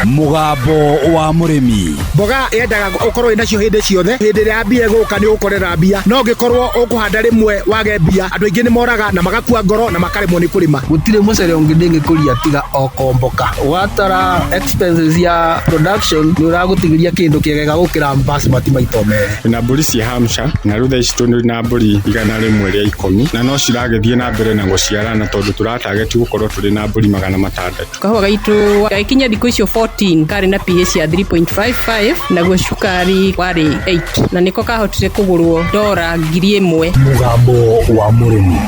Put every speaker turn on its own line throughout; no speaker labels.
mũgambo wa mũrĩmi mboga yendaga
ũkorwo wĩ nacio hĩndĩ ciothe hĩndĩ ĩrĩa ya mbia ĩgũka nĩ ũgũkorera mbia no ũngĩkorwo ũkũhanda rĩmwe wage mbia andũ aingĩ nĩ moraga na magakua ngoro na makaremwo nĩ kũrĩma gũtirĩ mũcere ũngĩ
ndĩngĩkũria tiga o komboka watara expenses ya production nĩ ũragũtigĩria kĩndũ kĩegega gũkĩra basmati maito merĩ na mbũri cia hamsha
na rĩu thaa ici tũrĩ na mbũri igana rĩmwe rĩa ikũmi na no ciragĩthiĩ na mbere na gũciarana tondũ tũra target gũkorwo tũrĩ na mbũri magana matandatũ. Kahũa gaitũ
gagĩkinya thikũ icio 14 karĩ na pH ya 3.55 naguo cukari warĩ 8 na nĩko kahotire kũgũrwo ndora ngiri ĩmwe. Mũgambo
wa mũrĩmi.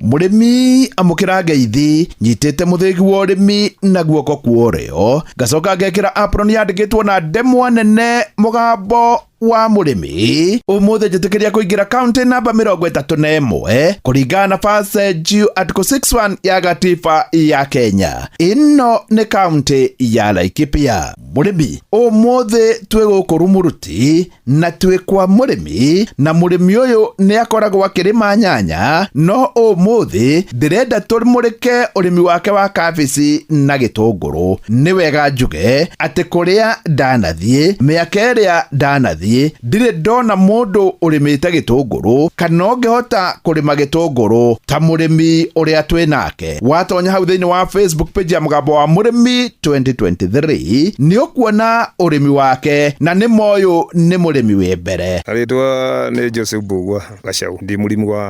mũrĩmi
amũkĩra ngeithi nyitĩte mũthĩgi wa ũrĩmi na guoko kuorĩo ngacoka ngekĩra apron yandĩkĩtwo na ndemwa nene mũgambo wa mũrĩmi ũmũthĩ njĩtĩkĩria kũingĩra kaunti namba mĩrongo ĩtatũ na ĩmwe kũringana na base juu article 61 ya gatiba ya kenya ĩno nĩ kaunti ya laikipia mũrĩmi ũmũthĩ twĩ gũkũ rumuruti na twĩ kwa mũrĩmi na mũrĩmi ũyũ nĩ akoragwo akĩrĩma nyanya no ũmũthĩ ndĩrenda tũmũrĩke ũrĩmi wake wa kabici na gĩtũngũrũ nĩ wega njuge atĩ kũrĩa ndanathiĩ mĩaka ĩrĩa ndanathiĩ ndirĩ ndona mũndũ ũrĩmĩte gĩtũngũrũ kana ũngĩhota kũrĩma gĩtũngũrũ ta mũrĩmi ũrĩa twĩ nake watonya hau thĩinĩ wa facebook page ya mũgambo wa mũrĩmi 2023 nĩ ũkuona ũrĩmi wake na nĩ moyũ nĩ mũrĩmi wĩ mbere Rĩtwa nĩ
Joseph Mbugua. gacaũ ndĩ mũrĩmi wa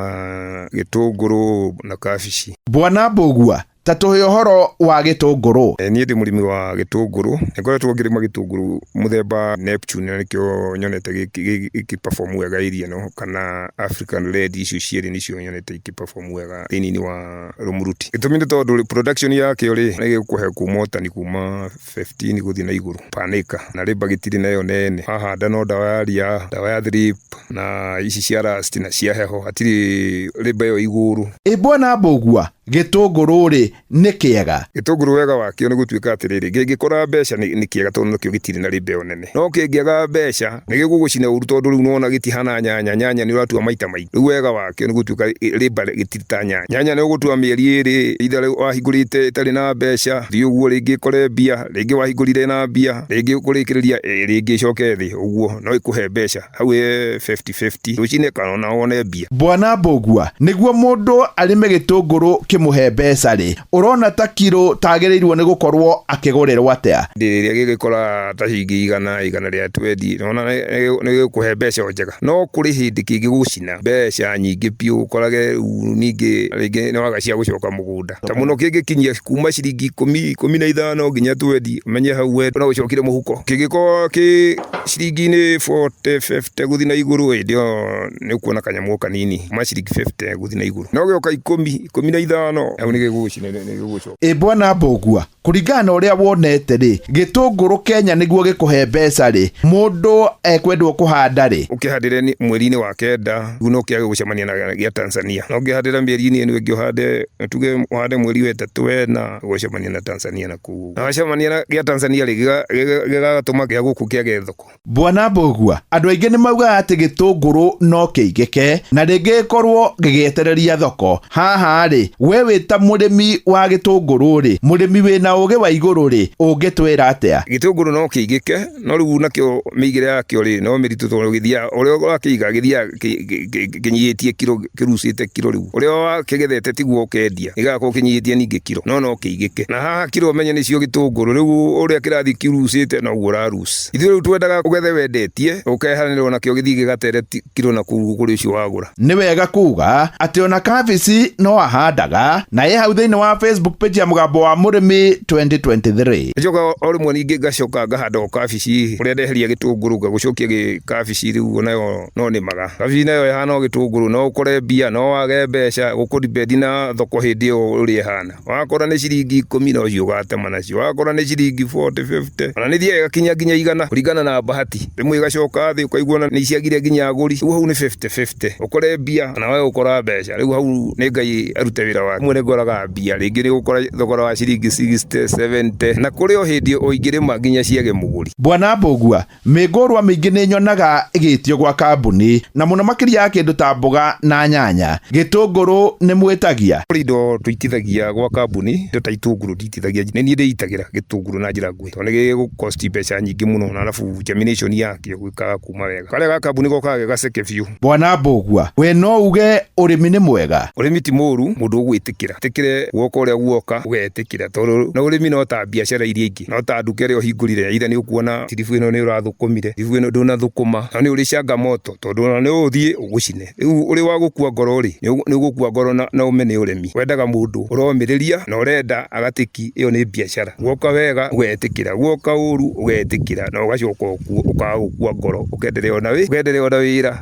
gĩtũngũrũ na kabici. Bwana Mbũgua,
ta tũhe ũhoro wa gĩtũngũrũ. Eh, niĩ ndĩ mũrĩmi wa
gĩtũngũrũ nĩ ngoretwo ngĩrĩma gĩtũngũrũ mũthemba Neptune na nĩkĩo nyonete gĩkĩperform wega area ĩno kana African Red icio cierĩ nĩcio nyonete ikĩperform wega thĩinĩ wa Rumuruti. Gĩtũmi nĩ tondũ production yakĩo rĩ nĩ gĩgũkũhe kuma ũtani kuma 15 gũthiĩ na igũrũ per acre na labour gĩtirĩ nayo nene. Wahanda no ndawa ya ria, ndawa ya thrip na ici cia rust na cia heho hatirĩ labour ĩyo igũrũ. Ĩ Bwana Mbũgua,
gĩtũngũrũ-rĩ, nĩ kĩega? Gĩtũngũrũ wega wakĩo
nĩ gũtuĩka atĩrĩrĩ, kĩngĩkũra mbeca nĩ kĩega tondũ nakĩo gĩtirĩ na labour ĩyo nene. ũrĩmĩte no kĩngĩaga mbeca nĩ gĩgũgũcina ũru tondũ rĩu nĩwona gĩtihana nyanya, nyanya nĩ ũratua maita maingĩ rĩu wega wakĩo nĩ gũtuĩka rĩmba gĩtirĩ ta nyanya, nyanya nĩ ũgũtua mĩeri ĩrĩ either wahingũrĩte ĩtarĩ na mbeca thiĩ ũguo rĩngĩ ĩkore mbia, rĩngĩ wahingũrire na mbia rĩngĩ kũrĩkĩrĩria rĩngĩ ĩcoke thĩ ũguo no ĩkũhe mbeca. hau ĩ 50-50 rũcinĩ kana ona wone mbia Bwana Mbũgua,
nĩguo mũndũ arĩme gĩtũngũrũ kĩmũhe mbeca rĩ, ũrona ta kiro ta agĩrĩirwo nĩ gũkorwo akĩgũrĩrwo atĩa? hĩndĩ ĩrĩa gĩgĩkora
ta ciringi igana igana rĩa twendi nĩwona nĩ- nĩ gĩgũkũhe mbeca o njega no kũrĩ hĩndĩ kĩngĩgũcina mbeca nyingĩ biũ ũkorage rĩu ningĩ rĩngĩ nĩ waga cia gũcoka mũgũnda ta muno kingikinyia kuma ciringi ikumi ikumi na ithano nginya twendi menye hau we no ucokire muhuko kingikorwo ki ciringi-ini 40 50 guthi na iguru hindi iyo ni ukuona kanyamu o kanini kuma ciringi 50 guthi na iguru no gioka ikumi ikumi na ithano hau ni gigugucina ni gigugucoka ĩ bwana mbũgua
kũringana na ũrĩa wonete rĩ gĩtũngũrũ kenya nĩguo gĩkũhe mbeca rĩ mũndũ ekwendwo kũhanda rĩ ũkĩhandĩre ni- mweri-inĩ
wa kenda guo no kĩage gũcemania na gĩa tanzania no ũngĩhandĩra mĩeri-inĩ ĩno ĩngĩ ũhande tuge ũhande mweri wetatũ wena ũgũcemania na tanzania na kuu na wacemania na gĩa tanzania rĩ gĩga- gĩga- gĩgatũma gĩa gũkũ kĩage thoko Bwana Mbũgua,
andũ aingĩ nĩ maugaga atĩ gĩtũngũrũ no kĩigĩke na rĩngĩ gĩkorwo gĩgĩetereria thoko. Haha-rĩ, we wĩ ta mũrĩmi wa gĩtũngũrũ-rĩ, mũrĩmi wĩ na ũũgĩ wa igũrũ-rĩ, ũngĩtwĩra atĩa? Gĩtũngũrũ no kĩigĩke,
no rĩu nakĩo mĩigĩre yakĩo-rĩ, no mĩritũ tondũ gĩthiaga, ũrĩa ũrakĩiga gĩthiaga kĩnyihĩtie kiro, kĩrucĩte kiro rĩu. Ũrĩa wakĩgethete tiguo ũkendia, gĩgakorwo kĩnyihĩtie ningĩ kiro, no no kĩigĩke. Na haha kiro menye nĩcio gĩtũngũrũ, rĩu ũrĩa kĩrathiĩ kĩrucĩte noguo ũra lose. Christ. Ithuĩ rĩu twendaga ũgethe wendetie, ũkehanĩrwo nakĩo gĩthiĩ gĩgatere ti- kiro na kũu kũrĩ ũcio wagũra. nĩ wega kuga
atĩ ona kabici no ahandaga na ĩ hau thĩinĩ wa facebook page ya mũgambo wa mũrĩmi 2023 Njoka o rĩmwe
ningĩ ngacoka ngahanda o kabici ũrĩa ndeheria gĩtũngũrũ ngagũcokia gĩ kabici rĩu nayo no nĩmaga kabici nayo ĩhana o gĩtũngũrũ no ũkore mbia no wage mbeca ũkũribendi na thoko hĩndĩ ĩyo ũrĩa ĩhana Wakorwo nĩ ciringi ikũmi no cio ũgatema nacio, wakorwo nĩ ciringi bote, bĩbute, ona nĩ ithiaga igakinya nginya igana kũringana na bahati. Rĩmwe igacoka thĩ ũkaigua ona nĩ ciagire nginya agũri, rĩu hau nĩ bĩbute bĩbute. Ũkore mbia kana wage gũkora mbeca, rĩu hau nĩ Ngai arute wĩra wake. Rĩmwe nĩ ngoraga mbia, rĩngĩ nĩ ũgũkora thogora wa ciringi sixty, seventy, na kũrĩ o hĩndĩ o ingĩrĩma nginya ciage mũgũri. Bwana Mbũgua,
Mĩngũrwa mĩingĩ nĩ nyonaga ĩgĩtio gwa kambuni na mũno makĩria ya kĩndũ ta mboga na nyanya. Gĩtũngũrũ nĩ mwĩtagia? Kũrĩ indo tũitithagia
gwa kambuni, indo ta itũngũrũ nditithagia. Nĩ niĩ ndĩitagĩra gĩtũngũrũ na njĩra nguhĩ tondũ nĩ gĩgũ cost mbeca nyingĩ mũno na arabu germination yakĩo ĩkaga kuma wega. Karĩa ga kambuni gokaga ge gaceke biũ. Bwana Mbũgua, we no
uge ũrĩmi nĩ mwega? Ũrĩmi ti mũru mũndũ
ũgwĩtĩkĩra. Etĩkĩre guoka ũrĩa guoka ũgetĩkĩra tondũ ũrĩmi no ta biacara iria ingĩ. maingĩ no ta nduka ĩrĩa ũhingũrire either nĩ ũkuona tiribu ĩno nĩ ũrathũkũmire tiribu ĩno ndũnathũkũma na nĩ ũrĩ changamoto tondũ ona nĩ ũthiĩ ũgũcine rĩu ũrĩ wa gũkua ngoro rĩ nĩ ũgũkua ngoro na na ũme nĩ ũremi wendaga mũndũ ũromĩrĩria na ũrenda agatĩki ĩyo nĩ biacara guoka wega ũgetĩkĩra guoka ũru ũgetĩkĩra na ũgacoka ũkaga gũkua ngoro ũkenderea ona wĩ ũkenderea ona wĩra.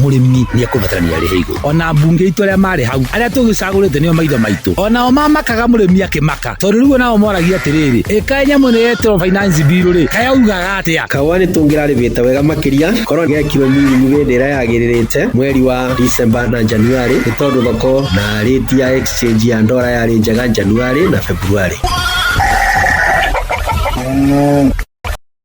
mũrĩmi nĩ ekũbatarania arĩhe igũrũ ona mbunge itũ arĩa marĩ hau arĩa tũgĩcagũrĩte nĩo maitho maitũ ona o mamakaga mũrĩmi akĩmaka tondũ rĩu nao moragia atĩrĩrĩ ĩkaĩ nyamũ nĩ yetĩrwo finance bill rĩ kayaugaga atĩa kahũa nĩ tũngĩrarĩbĩte
wega makĩria korwo gekirwo minyu hĩndĩ ĩrĩa yagĩrĩrĩte mweri wa December na January nĩ tondũ thoko na rĩti ya exchange ya ndora yarĩ njega January na February